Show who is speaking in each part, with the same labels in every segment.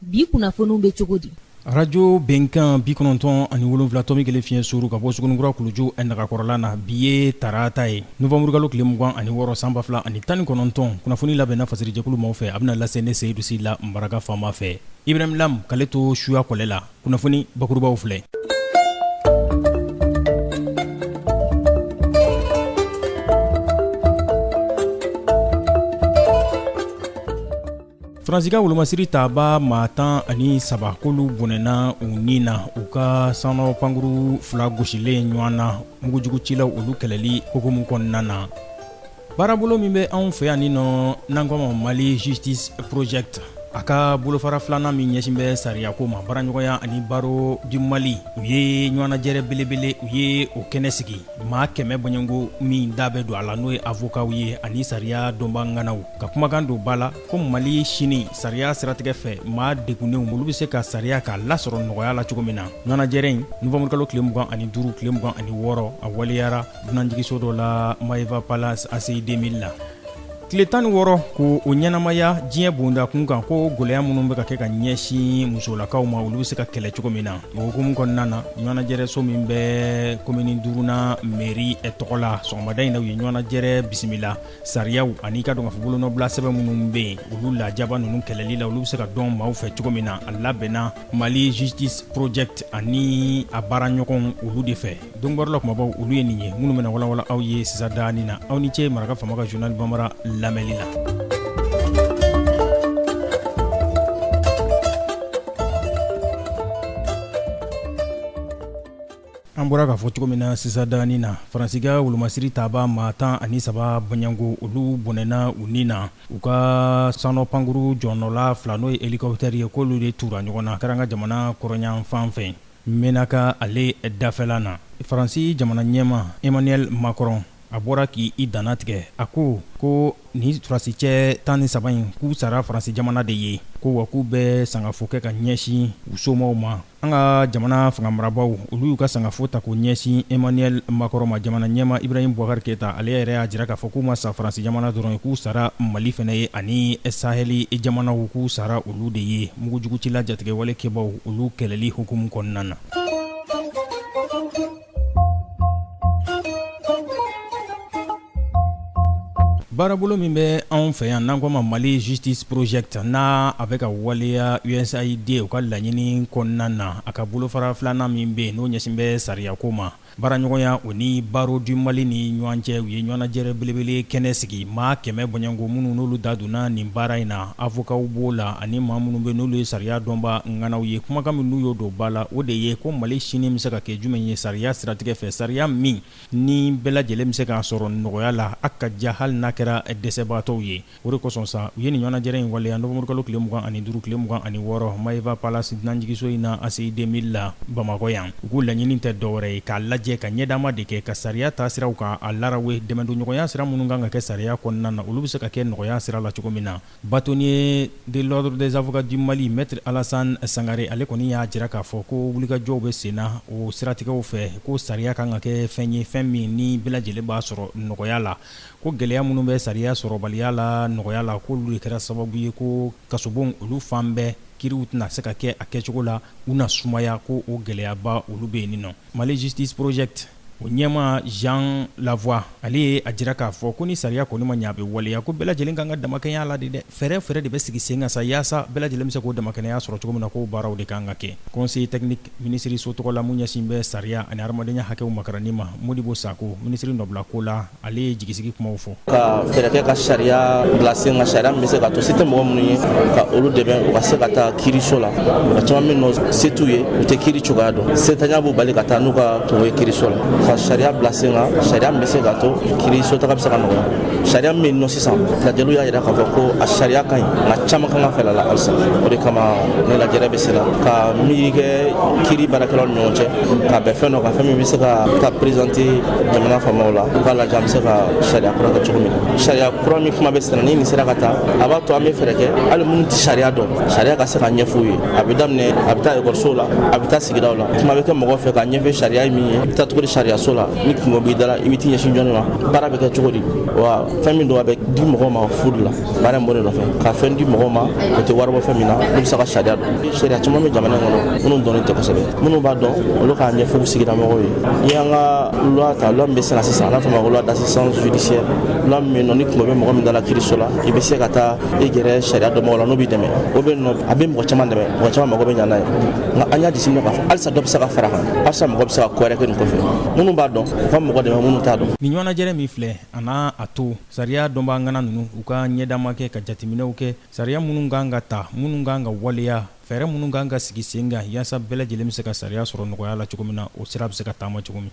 Speaker 1: bi kunnafoniw bɛ cogo di arajo
Speaker 2: bɛnkan bi kɔnɔntɔn ani wolonwula tɔmi kelen fiɲɛ suuru ka bɔ sugunikura kuluju nagakɔrɔla na bi ye tarata ye nowanburukalo tile mugan ani wɔɔrɔ san ba fila ani tan ni kɔnɔntɔn kunnafoni labɛnna fasirijɛkulu maaw fɛ a bɛna lase ne seyidu sila maraka faama fɛ ibrahim lam k'ale to suya kɔlɛ la kunnafoni bakurubaw filɛ faransika wolomasiri taaba maa tan ani saba k'olu bɔnɛna u ni na u ka sanɔ pankuru fila gosilen ɲɔgɔn na mugujugucilaw olu kɛlɛli hukumu kɔnɔna na baarabolo min bɛ anw fɛ yan ni nɔ n'an k'o ma mali justice project a ka bolofara filanan min ɲɛsin bɛ sariyako ma baaraɲɔgɔnya ani barreau du mali u ye ɲɔgɔnnajɛrɛ belebele u ye o kɛnɛ sigi maa kɛmɛ bɔɲɔgɔnko min da bɛ don a la n'o ye avokaw ye ani sariya dɔnbaa ŋanaw ka kumakan don ba la ko mali sini sariya siratigɛ fɛ maa degunnenw olu bɛ se ka sariya k'a lasɔrɔ nɔgɔya la cogo min na ɲɔgɔnnajɛrɛ in nowanburukalo tile mugan ani duuru tile mugan ani wɔɔrɔ a waleyara dunanjigiso dɔ la maeva palace ACI 2000 la tile tan ni wɔɔrɔ k'o ɲɛnamaya diɲɛ bonda kun kan ko gwɛlɛya minnu bɛ ka kɛ ka ɲɛsin musolakaw ma olu bɛ se ka kɛlɛ cogo min na o hukumu kɔnɔna na ɲɔgɔnajɛrɛso min bɛ komini duurunan meri tɔgɔ la sɔgɔmada in na u ye ɲɔgɔnajɛrɛ bisimila Sariyaw ani k'a dɔn k'a fɔ bolonɔbila sɛbɛn minnu bɛ yen olu lajaba ninnu kɛlɛli la olu bɛ se ka dɔn maaw fɛ cogo min na a labɛnna mali justice project ani a baaraɲɔgɔnw olu de fɛ don bɔrɔ la kumabaw olu ye nin ye minnu bɛna walawala aw ye sisan daanin na aw ni cɛ maraka faama ka journal bambara lamɛnli la an bɔra k'a fɔ cogo min na sisan daanin na faransika wolomasiri taaba maa tan ani saba bɔɲɔgɔnko olu bɔnɛna u ni na u ka sanɔ pankuru jɔnɔla fila n'o ye helicoptère ye k'olu de tura ɲɔgɔn na kɛra an ka jamana kɔrɔnyanfan fɛ menaka ale dafɛla na faransi jamana ɲɛmaa emmanuel macron a bɔra k'i danna tigɛ a ko ko nin surasicɛ tan ni saba in k'u sara faransi jamana de ye ko wa k'u bɛ sangafo kɛ ka ɲɛsin u somɔgɔw ma An ka jamana fangamarabaaw olu y'u ka sangafo ta k'o ɲɛsin Emmanuel Macron ma jamana ɲɛmaa Ibrahim Boubacar Keita ale yɛrɛ y'a jira k'a fɔ k'u ma sa Faransi jamana dɔrɔn ye, k'u sara Mali fɛnɛ ye ani sahɛli jamanaw k'u sara olu de ye mugujugucila jatigɛwale kɛbaaw olu kɛlɛli hukumu kɔnɔna na. baarabolo min bɛ anw fɛ yan n'an ko ma mali justice project n'a a bɛ ka waleya usaid u ka laɲini kɔnɔna na a ka bolofara filanan min bɛ yen n'o ɲɛsin bɛ sariyako ma baaraɲɔgɔnya o ni barreau du mali ni ɲɔgɔn cɛ u ye ɲɔgɔnnajɛrɛ belebele kɛnɛ sigi maa kɛmɛ bɔɲɔgɔnko minnu n'olu da donna nin baara in na avokaw b'o la ani maa minnu bɛ n'olu ye sariya dɔnba ŋanaw ye kumakan min n'u y'o don ba la o de ye ko mali sini bɛ se ka kɛ jumɛn ye sariya siratigɛ fɛ sariya min ni bɛɛ lajɛlen bɛ se k'a sɔrɔ nɔgɔya la a ka ja hali n'a kɛra dɛsɛbaatɔw ye o de kosɔn sa u ye nin ɲɔgɔnnajɛrɛ in waleya nowanburukalo tile mugan ani duuru tile mugan ani wɔɔrɔ maeva palace dunanjiginso in na aci deux mille la bamakɔ yan u k'u laɲini tɛ dɔwɛrɛ ye k'a lajɛ ka ɲɛ dama de kɛ ka sariya taasiraw k'a larawe dɛmɛdonɲɔgɔnya sira minnu kan ka kɛ sariya kɔnɔna na olu bɛ se ka kɛ nɔgɔya sira la cogo min na Bâtonnier de l'ordre des avocats du Mali Maître Alassane Sangare ale kɔni y'a jira k'a fɔ ko wulikajɔw bɛ sen na o siratigɛw fɛ ko sariya ka kan ka kɛ fɛn ye fɛn min ni bɛɛ lajɛlen b'a sɔrɔ nɔgɔya la ko gɛlɛya minnu bɛ sariya sɔrɔbaliya la nɔgɔya la k'olu de kɛra sababu ye ko kasobonw olu fan bɛɛ kiriw tɛna se ka kɛ a kɛcogo la u na sumaya ko o gɛlɛyaba olu bɛ yen nin nɔ Mali justice project o ɲɛmaa Jean Lavoie ale ye a jira k'a fɔ ko ni sariya kɔni ma ɲɛ a bɛ waleya ko bɛɛ lajɛlen ka kan ka damakɛɲɛ la de dɛ, fɛɛrɛ o fɛɛrɛ de bɛ sigi sen kan sa yaasa bɛɛ lajɛlen bɛ se k'o damakɛɲɛya sɔrɔ cogo min na k'o baaraw de ka kan ka kɛ conseiller technique minisiriso tɔgɔ la min ɲɛsinnen bɛ sariya ani hadamadenya hakɛw makaranni ma Modibo Sakɔ minisiri nɔbila ko la ale ye jigisigi kumaw fɔ ka fɛɛrɛ kɛ
Speaker 3: ka sariya bila sen kan sariya min bɛ se k'a to se tɛ mɔgɔ minnu ye ka olu dɛmɛ u ka se ka taa kiiriso la mɔgɔ caman min nɔ se t'u ye u tɛ kiiri cogoya dɔn setanya b'u bali ka taa n'u ka kunko ye kiiriso la ka sariya bila sen kan sariya min bɛ se k'a to kiiriso taga bɛ se ka nɔgɔya sariya min bɛ yen nɔ sisan lajɛliw y'a jira k'a fɔ ko a sariya ka ɲi nka caman kan ka falen a la halisa o de kama nin lajɛrɛ bɛ sen na ka miiri kɛ kiiri baarakɛlaw ni ɲɔgɔn cɛ ka bɛn fɛn dɔ kan fɛn min bɛ se ka taa perezante jamana faamaw la u k'a lajɛ an bɛ se ka sariya kura kɛ cogo min na sariya kura min kuma bɛ sen na ni nin sera ka taa a b'a to an bɛ fɛɛrɛ kɛ hali minnu tɛ sariya dɔn sariya ka se ka ɲɛfɔ u ye a bɛ daminɛ a bɛ taa ekɔlisow la a bɛ taa sigidaw la kuma bɛ kɛ mɔgɔw fɛ k'a ɲɛfɔ sariya ye min ye i bɛ taa cogo di sariyaso la ni kunko b'i da la i bɛ t'i ɲɛsin jɔni ma baara bɛ kɛ cogo di wa fɛn min don a bɛ di mɔgɔw ma fu de la baara in b'o de nɔfɛ ka fɛn di mɔgɔw ma o tɛ wari bɔ fɛn min na n'u bɛ se ka sariya dɔn sariya caman bɛ jamana in kɔnɔ minnu dɔnnen tɛ kosɛbɛ minnu b'a dɔn olu k'a ɲɛfɔ u sigida mɔgɔw ye n'i y'an ka loi ta loi min bɛ sen na sisan n'a fɔ ma ko loi d'assistance judiciaire loi min bɛ yen nɔ ni kunko bɛ mɔgɔ min da la kiiriso la i bɛ se ka taa i gɛrɛ sariya dɔnbagaw la n'u b'i dɛmɛ o bɛ nɔ a bɛ mɔgɔ caman dɛmɛ mɔgɔ caman mago bɛ ɲa n'a ye nka an y'a jateminɛ k'a fɔ halisa dɔ bɛ se ka fara a kan halisa mɔgɔ bɛ se ka ko wɛrɛ kɛ nin kɔfɛ minnu b'a dɔn u ka mɔgɔ dɛmɛ minnu t'a dɔn nin ɲɔgɔnnajɛrɛ min filɛ
Speaker 2: a n'a a to Sariya dɔnbaa ŋana ninnu, u ka ɲɛdama kɛ ka jateminɛw kɛ sariya minnu ka kan ka ta, minnu ka kan ka waleya, fɛɛrɛ minnu ka kan ka sigi sen kan yaasa bɛɛ lajɛlen bɛ se ka sariya sɔrɔ nɔgɔya la cogo min na, o sira bɛ se ka taama cogo min.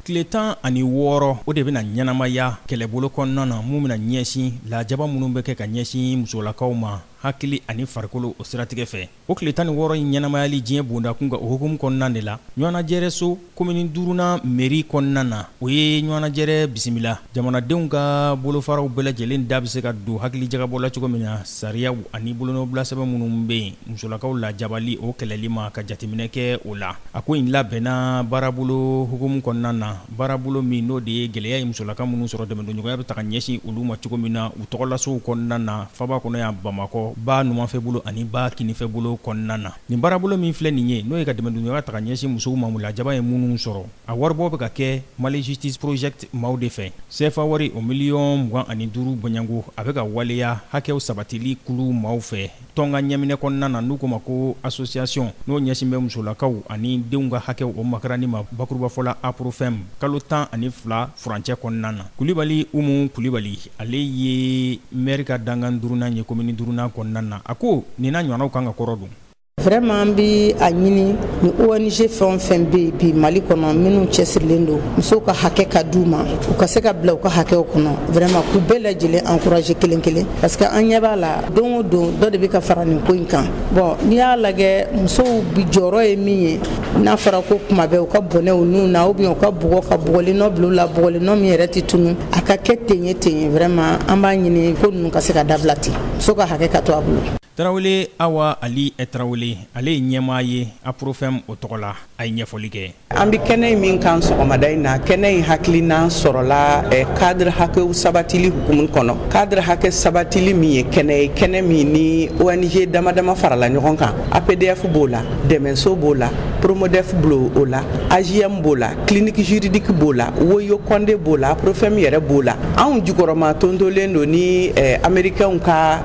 Speaker 2: tile tan ani wɔɔrɔ o de bɛna ɲɛnamaya kɛlɛbolo kɔnɔna na mun bɛna ɲɛsin lajaba minnu bɛ kɛ ka ɲɛsin musolakaw ma hakili ani farikolo o siratigɛ fɛ O tile tan ni wɔɔrɔ in ɲɛnamayali diɲɛ bondakun ka o hukumu kɔnɔna de la ɲɔgɔnnajɛrɛso komini duurunan meri kɔnɔna na o ye ɲɔgɔnnajɛrɛ bisimila jamanadenw ka bolofaraw bɛɛ lajɛlen da bɛ se ka don hakilijagabɔ la cogo min na sariyaw ani bolonɔbilasɛbɛn minnu bɛ yen musolakaw lajabali o kɛlɛli ma ka jateminɛ kɛ o la a ko in labɛnna baarabolo hukumu kɔnɔna na baarabolo min n'o de ye gɛlɛya ye musolakaw minnu sɔrɔ dɛmɛdonɲɔgɔnya bɛ ta ka ɲɛsin olu ma cogo min na u tɔgɔlasow kɔnɔna na faaba kɔnɔ yan bamakɔ ba numanfɛ bolo ani ba kinifɛ bolo kɔnɔna na nin baarabolo min filɛ nin ye n'o ye ka dɛmɛdonɲɔgɔnya ta ka ɲɛsin musow ma u lajaba ye minnu sɔrɔ a waribɔ bɛ ka kɛ mali justice project maaw de fɛ sefa wari o miliyɔn mugan ani duuru bɔɲɔgɔnko a bɛ ka waleya hakɛw sabatili kulu maaw fɛ tɔn ka ɲɛminɛ kɔnɔna na n'u ko ma ko association n'o ɲɛsin bɛ musolakaw ani denw ka hakɛw o makaranni ma bakurubafɔ la aprofem kalo tan ani fila furancɛ kɔnɔna na kulibali umu kulibali ale ye mɛri ka dankan duurunan ye komini duurunan kɔnɔna na a ko nin na ɲɔgɔnnaw kan ka kɔrɔ don Vraiment an
Speaker 4: b'a ɲini ni ONG fɛn o fɛn bɛ bi Mali kɔnɔ minnu cɛsirilen don musow ka hakɛ ka d'u ma u ka se ka bila u ka hakɛw kɔnɔ vraiment k'u bɛɛ lajɛlen encourager kelen kelen parce que an ɲɛ b'a la don o don dɔ de bɛ ka fara nin ko in kan bon n'i y'a lajɛ musow bi jɔyɔrɔ ye min ye n'a fɔra ko kuma bɛɛ u ka bɔnɛ u niw na ou bien u ka bugɔ ka bugɔli nɔ bila u la bugɔli nɔ min yɛrɛ tɛ tunu a ka kɛ ten ye ten ye vraiment an b'a ɲini ko ninnu ka se ka dabila ten muso ka hakɛ ka to a bolo tarawele awa
Speaker 2: ali tarawele ale ye ɲɛmaa ye aprofem o tɔgɔ la a ye ɲɛfɔli kɛ an bɛ kɛnɛ in
Speaker 5: min kan sɔgɔmada in na kɛnɛ in hakilina sɔrɔla cadre eh, hakɛw sabatili hukumu kɔnɔ cadre hakɛ sabatili min ye kɛnɛ ye kɛnɛ min ni ong dama dama farala ɲɔgɔn kan apdf b'o la dɛmɛso b'o la promodef b'o la ajm b'o la clinique juridique b'o la woyo konde b'o la aprofem yɛrɛ b'o la anw jukɔrɔma tontolen don ni eh, amerikɛnw ka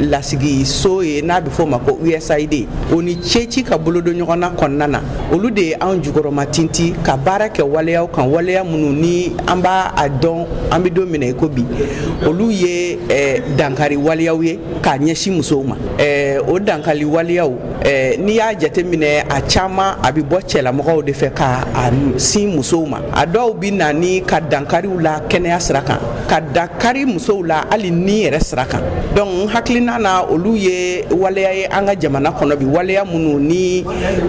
Speaker 5: lasigi so ye n'a bɛ fɔ o ma ko usaid o ni ceci ka bolodon ɲɔgɔn na kɔnɔna na olu de ye anw jukɔrɔma tinti ka baara kɛ waleyaw kan waleya minnu ni an b'a dɔn an bɛ don min na i ko bi olu ye dankari waleyaw ye k'a ɲɛsin musow ma o dankari waleyaw n'i y'a jateminɛ a caman a bɛ bɔ cɛlamɔgɔw de fɛ k'a sin musow ma a dɔw bɛ na ni ka dankari u la kɛnɛya sira kan ka dankari musow la hali ni yɛrɛ sira kan donc n hakilina na olu ye waleya ye an ka jamana kɔnɔ bi waleya minnu ni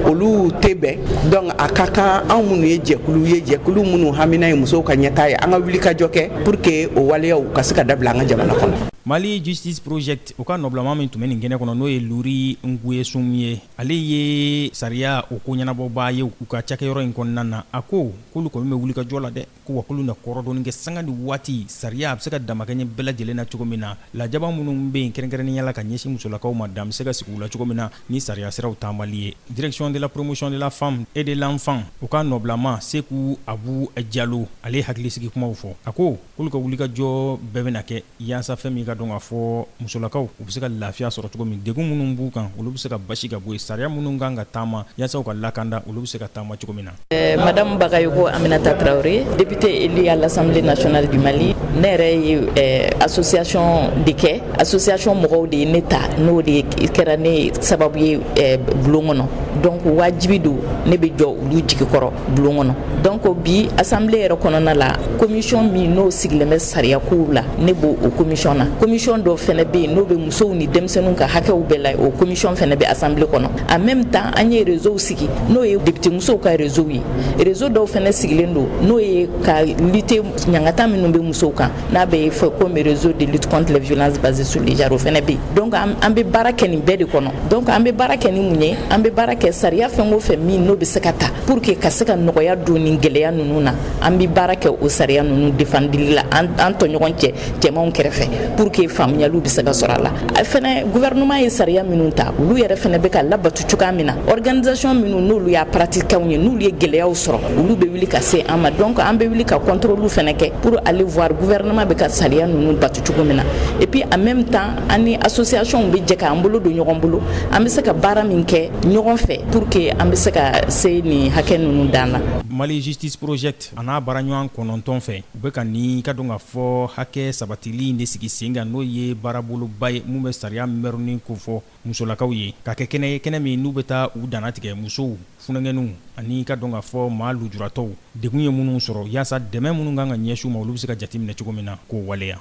Speaker 5: olu tɛ bɛn donc a ka kan anw minnu ye jɛkulu ye jɛkulu minnu hamina ye musow ka ɲɛtaa ye an ka wulikajɔ kɛ pour que o waleyaw ka se ka dabila an ka jamana kɔnɔ mali
Speaker 2: justice project o ka nɔbilama min tun bɛ nin kɛnɛ kɔnɔ n'o ye lury nkouessom ye ale ye sariya o ko ɲɛnabɔbaa ye u ka cakɛyɔrɔ in kɔnɔna na a ko k'olu kɔni bɛ wulikajɔ la dɛ ko wa k'olu na kɔrɔdɔnni kɛ sanga ni waati sariya a bɛ se ka damakɛɲɛ bɛɛ lajɛlen na cogo min na lajaba minnu bɛ yen kɛrɛnkɛrɛnnenya la ka ɲɛsin musolakaw ma dan bɛ se ka sigi u la cogo min na ni sariya siraw taamali ye direction de la promotion de la femme et de l'enfant o ka nɔbilama seku abu jalo ale ye hakilisigi kumaw fɔ a ko k'olu ka wulikajɔ bɛɛ bɛna kɛ Yaasa fɛn min k'a dɔn k'a fɔ musolakaw u bɛ se ka lafiya sɔrɔ cogo min degun minnu b'u kan olu bɛ se ka basi ka bɔ yen sariya minnu kan ka taama yaasa u ka lakanda olu bɛ se ka taama cogo min na madame bagayoko
Speaker 6: aminata traoré députée élue à l'assemblée nationale du mali ne yɛrɛ ye association de kɛ association mɔgɔw de ye ne ta n'o de kɛra ne sababu ye bulon kɔnɔ donc wajibi don ne bɛ jɔ olu jigi kɔrɔ bulon kɔnɔ donc bi assemblée yɛrɛ kɔnɔna la commission min n'o sigilen bɛ sariya kow la ne bɛ o commission na commission dɔ fɛnɛ bɛ yen n'o bɛ musow ni denmisɛnninw ka hakɛw bɛɛ la o commission fɛnɛ bɛ assemblée kɔnɔ en même temps an ye réseau sigi n'o ye député musow ka réseau ye réseau dɔw fɛnɛ sigilen don n'o ye ka lutter ɲangata minnu bɛ musow kan n'a bɛ fɔ comme réseau de lutte contre les violences basées sur le genre o fɛnɛ bɛ yen donc an bɛ baara kɛ nin bɛɛ de kɔnɔ donc an bɛ baara kɛ ni mun ye an bɛ baara kɛ sariya fɛn o fɛn min n'o bɛ se ka ta pour que ka se ka nɔgɔya don nin gɛlɛya ninnu na an bɛ baara kɛ o sariya ninnu defendili la an an tɔɲɔgɔn cɛ cɛmanw kɛrɛfɛ pour que faamuyaliw bɛ se ka sɔrɔ a la fɛnɛ gouvernement ye sariya minnu ta olu yɛrɛ fɛnɛ bɛ ka labato cogoya min na organisation minnu n'olu y'a pratiquantw ye n'olu ye gɛlɛyaw sɔrɔ olu bɛ wuli ka se an ma donc an bɛ wuli ka contrôle fɛnɛ kɛ pour aller voir gouvernement bɛ ka sariya ninnu bato cogo min na et puis en même temps an ni associationw bɛ jɛ k'an bolo don ɲɔgɔn bolo an bɛ se ka baara min kɛ ɲɔgɔn fɛ pour que an bɛ se ka se nin hakɛ ninnu dan la. Mali Justice
Speaker 2: Project a n'a baaraɲɔgɔn kɔnɔntɔn fɛ u bɛ ka nin k'a dɔn k'a fɔ hakɛ sabatili in de sigi sen kan n'o ye baaraboloba ye min bɛ sariya mɛrɛnni kofɔ. musolakaw ye k'a kɛ kɛnɛ ye kɛnɛ min n'u bɛ taa u dantigɛ musow funankɛninw ani k'a dɔn k'a fɔ maa lujuratɔw degun ye minnu sɔrɔ yaasa dɛmɛ minnu kan ka ɲɛsin u ma olu bɛ se ka jateminɛ cogo min na k'o waleya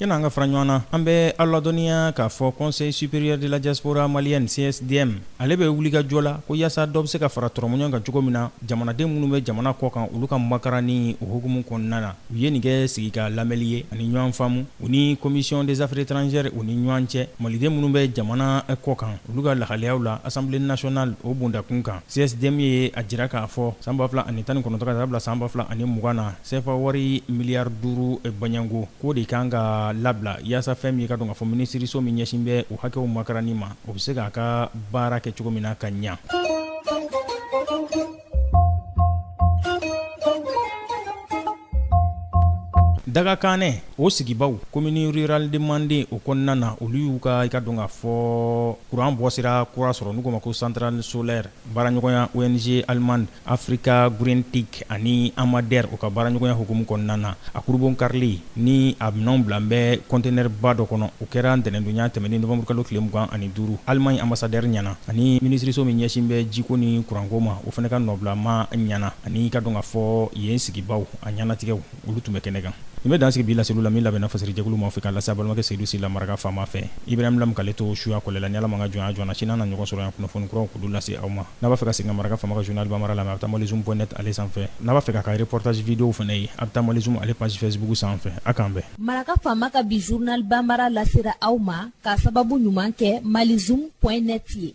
Speaker 2: Yanni an ka fara ɲɔgɔn na an bɛ aw ladɔnniya k'a fɔ conseil supérieur de la diaspora malienne CSDM ale bɛ wulikajɔ la ko yaasa dɔ bɛ se ka fara tɔrɔmɔɲɔgɔn kan cogo min na jamanaden minnu bɛ jamana kɔ kan olu ka makaran ni o hukumu kɔnɔna na u ye nin kɛ sigi ka lamɛnli ye ani ɲɔgɔn faamu u ni commission des affaires étrangères u ni ɲɔgɔn cɛ maliden minnu bɛ jamana kɔ kan olu ka lahalayaw la Assemblée nationale o bondakun kan CSDM ye a jira k'a fɔ san ba fila ani tan ni kɔnɔntɔn ka taa bila san ba fila ani mugan na sefa wari miliyari duuru baɲanko ko o de kan ka labila yaasa fɛn min ye i ka dɔn k'a fɔ minisiriso min ɲɛsin bɛ u hakɛw makaran ma o bɛ se k'a ka baara kɛ cogo min na ka ɲa Dagakanɛ o sigibaw commune rurale de Manden o kɔnɔna na olu y'u ka i ka dɔn k'a fɔ kuran bɔsira kura sɔrɔ n'u k'o ma ko centrale solaire baaraɲɔgɔnya ONG allemande Africa GreenTec ani AMADER o ka baaraɲɔgɔnya hukumu kɔnɔna na, a kurunbonkarili ni a minɛnw bilalen bɛ conteneur ba dɔ kɔnɔ, o kɛra ntɛnɛndonya tɛmɛnen novembre kalo tile 25, Allemagne ambassadeur ɲɛna ani minisiriso min ɲɛsin bɛ jiko ni kuranko ma, o fana ka nɔbilamaa ɲɛna, ani i ka dɔn k'a fɔ yen sigibaaw a ɲɛnatigɛw. olu tun bɛ kɛnɛ kan nin bɛ dan sigi bi laseliw la min labɛnna fasirijɛkulu ma fɛ k'a lase a balimakɛ Seyidu Sila Maraka faama fɛ Ibrahim Lam k'ale to suya kɔlɛ la ni Ala ma an ka jɔnya jɔ an na sini an na ɲɔgɔn sɔrɔ yan kunnafoni kuraw k'olu lase aw ma n'a b'a fɛ ka segin ka maraka faama ka journal Bambara lamɛn a bɛ taa Malizoom point net ale sanfɛ n'a b'a fɛ k'a ka reportage videow fana ye a bɛ taa Malizoom ale page Facebook sanfɛ a k'an bɛn. Maraka faama ka bi
Speaker 1: journal Bambara lasera aw ma k'a sababu ɲuman kɛ Malizoom point net ye.